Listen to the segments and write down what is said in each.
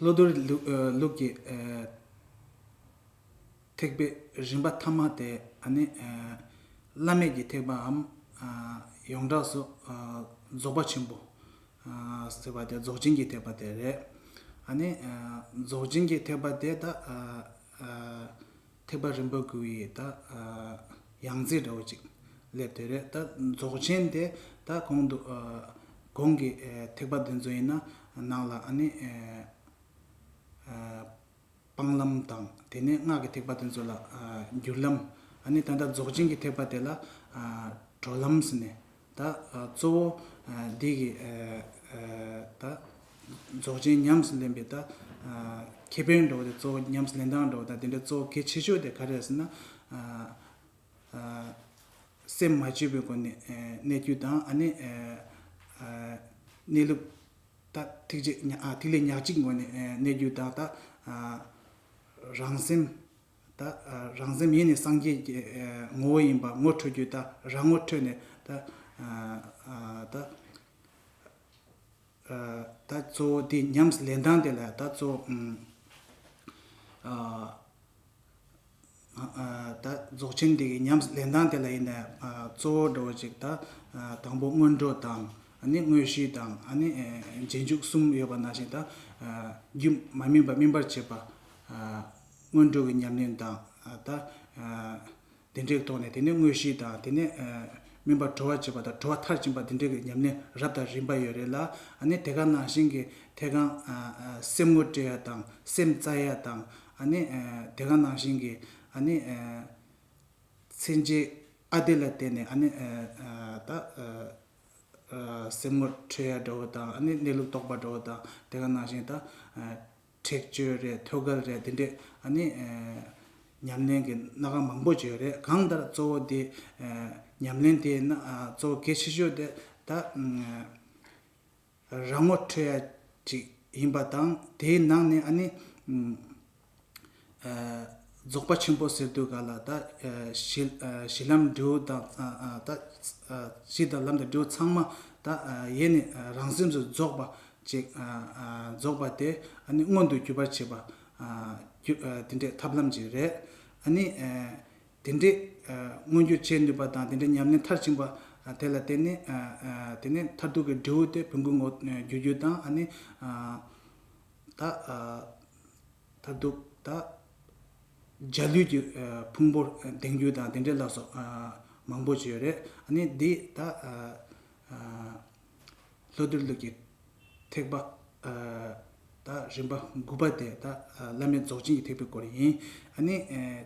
བློ་གཏོར་ལུགས་ཀྱི་ཐེག་པའི་རིམ་པ་ཐ་མ་དེ་ནི། བླ་མེད་ཀྱི་ཐེག་པའམ། ཡོངས་གྲགས་སུ་རྫོགས་པ་ཆེན་པོ། ཟེར་བ་དེ་རྫོགས་ཆེན་གྱི་ཐེག་པ་དེ་རེད། རྫོགས་ཆེན་གྱི་ཐེག་པ་དེ་དག། ཐེག་པ་རིམ་པ་དགུ་ཡི་ད་ཡང་རྩིས་འདྲ་བོ་ཅིག་སླེབས་དེ་རེད་ད་རྫོགས་ཆེན་དེ་ད་གོང་དུ་གོང་གི་ཐེག་པ་དེ་ཚོ་ཡིན་ན་ནང་ལ་ནི་སྤང་ལམ་དང་དེ་ནས་སྔགས་ཀྱི་ཐེག་པ་དེ་ཚོ་ལ་སྒྱུར་ལམ་ནི་ད་ལྟ་རྫོགས་ཆེན་གྱི་ཐེག་པ་དེ་ལ་གྲོལ་ལམ་ཟེར་ནས་ད་གཙོ་བོ་འདི་གི་ད་རྫོགས་ཆེན་ཉམས་སུ་ལེན་པའི་ད་ཁྱད་པར་འགྲོ་བ་དེ་གཙོ་བོ་ཉམས་སུ་ལེན་སྟངས་འགྲོ་བ་ད་དེ་འདྲ་གཙོ་བོ་གལ་ཆེ་ཤོས་དེ་ག་རེ་རེད་ཟེར་ན། སེམས་མ་བཅོས་པའི་སྒོ་ནས་གནས་རྒྱུ་དང་ཨ་ནི་གནས་ལུགས་ད་ཐིག་ལེ་ཉག་གཅིག་སྒོ་ནས་གནས་རྒྱུ་དང་ད་རང་སེམས། ད་རང་སེམས་ཡེ་ནས་སངས་རྒྱས་ཀྱི་ངོ་བོ་ཡིན་པ་ངོ་འཕྲོད་རྒྱུ་ད་རང་ངོ་འཕྲོད་ནས་ད་ད་ད་གཙོ་བོ་འདི་ཉམས་ལེན་སྟངས་དེ་ལ་ད་གཙོ་ད་རྫོགས་ཆེན་འདི་གི་ཉམས་ལེན་སྟངས་དེ་ལ་ཡིན་ནས་གཙོ་བོ་འགྲོ་བ་ཅིག་ད་དང་པོ་སྔོན་འགྲོ་དང་ནི་དངོས་གཞི་དང་ནི་རྗེས་འཇུག་གསུམ་ཡོད་པ་ནང་བཞིན་ད་རྒྱུད་མ་སྨིན་པ་སྨིན་པར་བྱེད་པ་སྔོན་འགྲོ་གི་ཉམས་ལེན་དང། དེ་འདྲའི་ཐོག་ནས་དེ་ནས་དངོས་གཞི་དང་དེ་ནས་སྨིན་པ་དྲོ་བར་བྱེད་པ་དང་དྲོ་བ་མཐར་ཕྱིན་པ་དེ་འདྲའི་ཉམས་ལེན་རབ་དང་རིམ་པ་ཡོད་རེད་ལ། ནི་དེ་ག་ནང་བཞིན་གྱི་ཐད་གང་སེམས་ངོ་སྤྲད་ཡ་དང་སེམས་བཙལ་ཡ་དང། ནི་དེ་ག་ནང་བཞིན་གྱི། ནི། ཚེ་འཇིག་ཨ་བདེ་ལ་བརྟེན་ནས་ནི། ད། སེམས་ངོ་འཕྲོད་ཡ་འདྲ་བོ་དང་ནི་གནས་ལུགས་རྟོགས་པ་འདྲ་བོ་དང་དེ་ག་ནང་བཞིན་ད། ཁྲེགས་ཆོད་རེད་ཐོད་གར་རེད་འདི་འདྲའི་ཨ་ནི། ཉམས་ལེན་གྱི་སྣ་ཁ་མང་པོ་བརྗོད་རེད་གང་ལྟར་གཙོ་བོ་དེ། ཉམས་ལེན་དེ་ནི་གཙོ་བོ་གལ་ཆེ་ཤོས་དེ་ད། རང་ངོ་འཕྲོད་ཡ་ཅིག་ཡིན་པ་དང་དེའི་ནང་ནས་ཨ་ནི། རྫོགས་པ་ཆེན་པོ་ཟེར་དུས་ག་ལ་ད། གཞི་ལམ་འབྲས་བུ་དང་ད། གཞི་དང་ལམ་དང་འབྲས་བུ་ཚང་མ་ད། ཡེ་ནས་རང་སེམས་སུ་རྫོགས་པ། རྫོགས་པ་དེ་མངོན་དུ་གྱུར་པར་བྱེད་པ། དེ་འདྲའི་ཐབས་ལམ་ཅིག་རེད། དེ་འདྲའི་མངོན་གྱུར་བྱེད་ནུས་པ་དང་དེ་འདྲའི་ཉམས་ལེན་མཐར་ཕྱིན་པ། དེ་ལ་བརྟེན་ནས་དེ་ནས་མཐར་ཐུག་གི་འབྲས་བུ་དེ་བོན་སྐུའི་ངོ་བརྒྱུད་རྒྱུ་དང། ད། ད་སྡུག་ད། འཇའ་ལུས་ཀྱི་ཕུང་པོར་དེང་རྒྱུ་དང་དེ་འདྲའི་ལ་སོགས་མང་པོ་བརྗོད་རེད་ནི་འདི་ད། ལྷོ་གཏེར་ལུགས་ཀྱི་ཐེག་པ་ད་རིམ་པ་དགུ་པ་དེ་ད་བླ་མེད་རྫོགས་ཆེན་གྱི་ཐེག་པའི་སྐོར་ཡིན་ནི།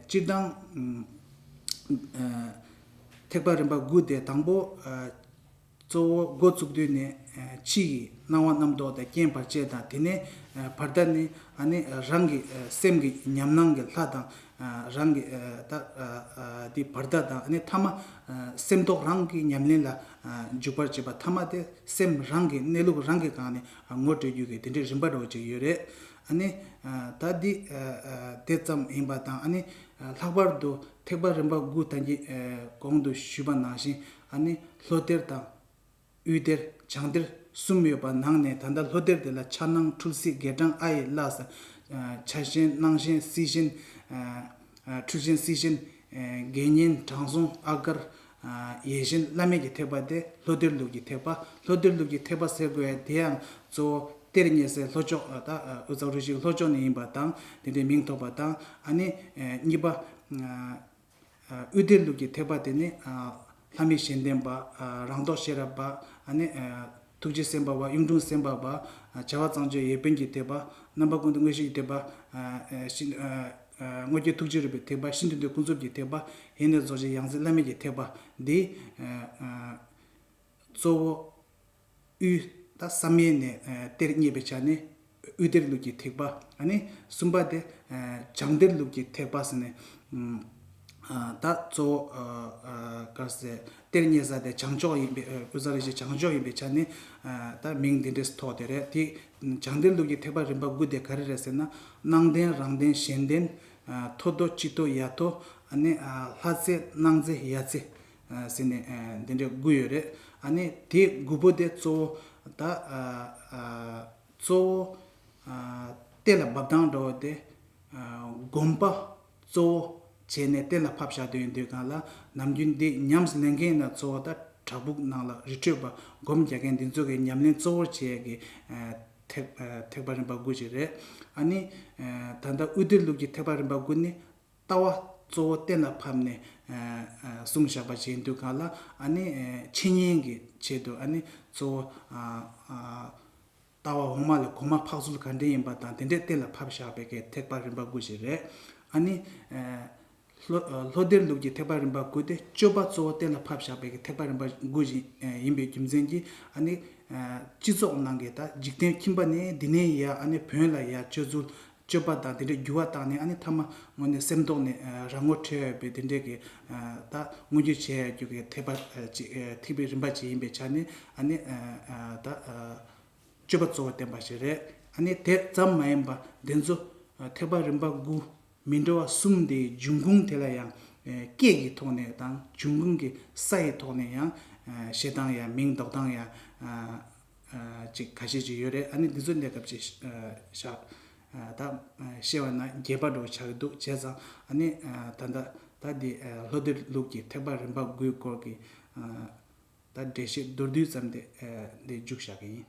སྤྱིར་བཏང། ཐེག་པ་རིམ་པ་དགུ་དེ་དང་པོ། གཙོ་བོ་འགོ་བཙུགས་དུས་ནས་ཕྱི་ཡི་སྣང་བ་རྣམ་རྟོག་དང་རྐྱེན་བར་ཆད་དང་དེ་ནས་བར་དག་ནི་ནི་རང་གི་སེམས་ཀྱི་ཉམས་སྣང་གི་ལྷ་དང་རང་གི་དེ་བར་དག་དང་ནི་ཐ་མ་སེམས་རྟོག་རང་གི་ཉམས་ལེན་ལ་འཇུག་པར་བྱེད་པ་ཐ་མ་དེ་སེམས་རང་གི་གནས་ལུགས་རང་གི་གང་ནས་ངོ་སྤྲོད་རྒྱུ་གི་དེ་འདྲའི་རིམ་པ་རོ་གཅིག་ཡོད་རེད་ད་འདི་དེ་ཙམ་ཡིན་པ་དང་ལྷག་པར་དུ་ཐེག་པ་རིམ་པ་དགུ་དང་གི་གོང་དུ་ཞུས་པ་ནང་བཞིན་ཨ་ནི་ལྷོ་གཏེར་དང། དབུས་གཏེར་བྱང་གཏེར་གསུམ་ཡོད་པ་ནང་ནས་ད་ལྟ་ལྷོ་གཏེར་དེ་ལ་ཕྱྭ་སྣང་འཁྲུལ་སྲིད་དགེ་སྤྲང་ཨ་ཡི་བླ། ཕྱྭ་གཤེན་སྣང་གཤེན་སྲིད་གཤེན། འཁྲུལ་གཤེན་སྲིད་གཤེན། དགེ་བསྙེན་དྲང་སྲོང་ཨ་དཀར། ཡེ་གཤེན་བླ་མེད་ཀྱི་ཐེག་པ་སྟེ་ལྷོ་གཏེར་ལུགས་ཀྱི་ཐེག་པ། ལྷོ་གཏེར་ལུགས་ཀྱི་ཐེག་པ་ཟེར་དགོས་དེ་ཡང་གཙོ་བོ་གཏེར་རྙེད་སའི་ལྷོ་ཕྱོགས་ད་དབུས་གཙང་རུ་བཞིའི་ལྷོ་ཕྱོགས་ནས་ཡིན་པ་དང་དེ་འདྲའི་མིང་ཐོགས་པ་དང་ཨ་ནི་གཉིས་པ། དབུས་སྡེ་ལུགས་ཀྱི་ཐེག་པ་དེ་ནི། ལྷ་མི་གཞན་ལྡན་པ། རང་རྟོགས་ཤེས་རབ་པ། ཐུགས་རྗེ་སེམས་དཔའ་བ། གཡུང་དྲུང་སེམས་དཔའ་བ། བྱ་བ་གཙང་སྤྱོད་ཡེ་དཔོན་གྱི་ཐེག་པ། རྣམ་པ་ཀུན་ཏུ་མངོན་ཤེས་ཀྱི་ཐེག་པ། དངོས་བརྒྱད་ཐུགས་རྗེ་རུས་པའི་ཐེག་པ། ཤིན་ཏུ་འདུལ་ཀུན་རྫོབ་ཀྱི་ཐེག་པ། ཡེ་ནས་རྫོགས་ཆེན་ཡང་རྩེ་བླ་མེད་ཀྱི་ཐེག་པ། འདི། གཙོ་བོ། དབུས། བསམ་ཡས་ནས་གཏེར་རྙེད་པའི་ཆ་ནི། དབུས་གཏེར་ལུགས་ཀྱི་ཐེག་པ། གསུམ་པ་སྟེ། བྱང་གཏེར་ལུགས་ཀྱི་ཐེག་པ་ཟེར་ནས། ད་གཙོ་བོ། གཏེར་རྙེད་ས་དེ་བྱང་ཕྱོགས་ཡིན་པའི་དབུས་ས་རེད་ཅེས་བྱང་ཕྱོགས་ཡིན་པའི་ཆ་ནི། ད་མིང་འདི་འདྲས་ཐོགས་དེ་རེད་དེ། བྱང་གཏེར་ལུགས་ཀྱི་ཐེག་པ་རིམ་པ་དགུ་དེ་ག་རེ་རེད་ཟེར་ན། སྣང་ལྡན་རང་ལྡན་གཞན་ལྡན། མཐོ་མཐོ་སྤྱི་མཐོ་ཡ་མཐོ། ལྷ་རྩེ་སྣང་རྩེ་ཡ་རྩེ། ཟེར་ནས་འདི་འདྲའི་དགུ་ཡོད་རེད་ཨ་ནི་དེ་དགུ་པོ་དེ་གཙོ་བོ་ད་གཙོ་བོ་གཏེར་ལ་འབབ་སྟངས་འདྲ་བོ་དེ་དགོངས་པ་གཙོ་བོ་བྱས་ནས་གཏེར་ལ་ཕབ་བཞག་དོན་དུས་གང་ལ་ནམ་རྒྱུན་འདི་ཉམས་ལེན་མཁན་ན་གཙོ་བོ་ད་བྲག་ཕུག་ནང་ལ་རི་ཁྲོད་པ་སྒོམ་རྒྱག་མཁན་འདི་ཚོ་གི་ཉམས་ལེན་གཙོ་བོར་བྱས་ཀྱི་ཐེག་པ་རིམ་པ་དགུ་ཞིག་རེད་ཨ་ནི་ད་ལྟ་དབུས་བསྟོད་ལུགས་ཀྱི་ཐེག་པ་རིམ་པ་དགུ་ནི་ལྟ་བ་གཙོ་བོ་གཏན་ལ་ཕབ་ནས་བསྲུང་བཞག་པ་བྱས་འདུག་ག་ལ་འཆི་ཉེན་གྱི་ཆེད་དུ་གཙོ་བོ་ལྟ་བ་འོག་མ་ལ་གོ་མ་འཕགས་ཚུལ་ག་འདྲས་ཡིན་པ་དང་དེ་འདྲས་གཏན་ལ་ཕབ་བཞག་པའི་གེགས་ཐེག་པ་རིམ་པ་དགུ་ཞིག་རེད། ལྷོ་སྡེར་ལུགས་ཀྱི་ཐེག་པ་རིམ་པ་དགུ་སྟེ་སྤྱོད་པ་གཙོ་བོ་གཏན་ལ་ཕབ་བཞག་པའི་གེགས་ཐེག་པ་རིམ་པ་དགུ་ཡིན་པའི་རྒྱུ་མཚན་གྱིས་སྤྱི་ཚོགས་ནང་གི་འཇིག་རྟེན་ཁྱིམ་པ་ནི་འདི་ནས་ཡར་བོན་ལ་ཡར་སྤྱོད་ཚུལ་སྤྱོད་པ་དང་དེ་འདྲའི་འགྱུར་བ་བཏང་ནས་ཨ་ནི་ཐ་མ་ངོ་ནས་སེམས་རྟོགས་ནས་རང་ངོ་འཕྲད་ཡོད་པའི་དེ་འདྲའི་གི་ད་མངོན་རྒྱུ་བྱས་ཡོད་རྒྱུ་གི་ཐེག་པ་ཅིག་ཐེག་པའི་རིམ་པ་ཅིག་ཡིན་པའི་ཆ་ནས་ཨ་ནི་ད་སྤྱོད་པ་གཙོ་བོ་བསྟན་པ་ཞིག་རེད་ཨ་ནི་དེ་ཙམ་མ་ཡིན་པ་འདི་ཚོ་ཐེག་པ་རིམ་པ་དགུ་མི་འདྲ་བ་གསུམ་དེའི་འབྱུང་ཁུངས་དེ་ལ་ཡང་སྐད་ཀྱི་ཐོག་ནས་དང་འབྱུང་ཁུངས་ཀྱི་ས་ཡི་ཐོག་ནས་ཡང་བཤད་སྟངས་ཡ་མིང་འདོགས་སྟངས་ཡ་ཅིག་ག་ཤེད་ཅིག་ཡོད་རེད་ཨ་ནི་འདི་ཚོ་ལས་སྐབས་ཅིག་བཞག་ད་བཤད་བ་ན་རྒྱས་པ་འགྲོ་བྱ་གི་འདུག་བྱས་ཙང་ཨ་ནི་ད་ལྟ་ད་འདི་ལྷོ་སྡེ་ལུགས་ཀྱི་ཐེག་པ་རིམ་པ་དགུའི་སྐོར་གྱི་ད་འགྲེལ་བཤད་མདོར་བསྡུས་ཙམ་དེ་འདི་འཇུག་བཞག་གི་ཡིན།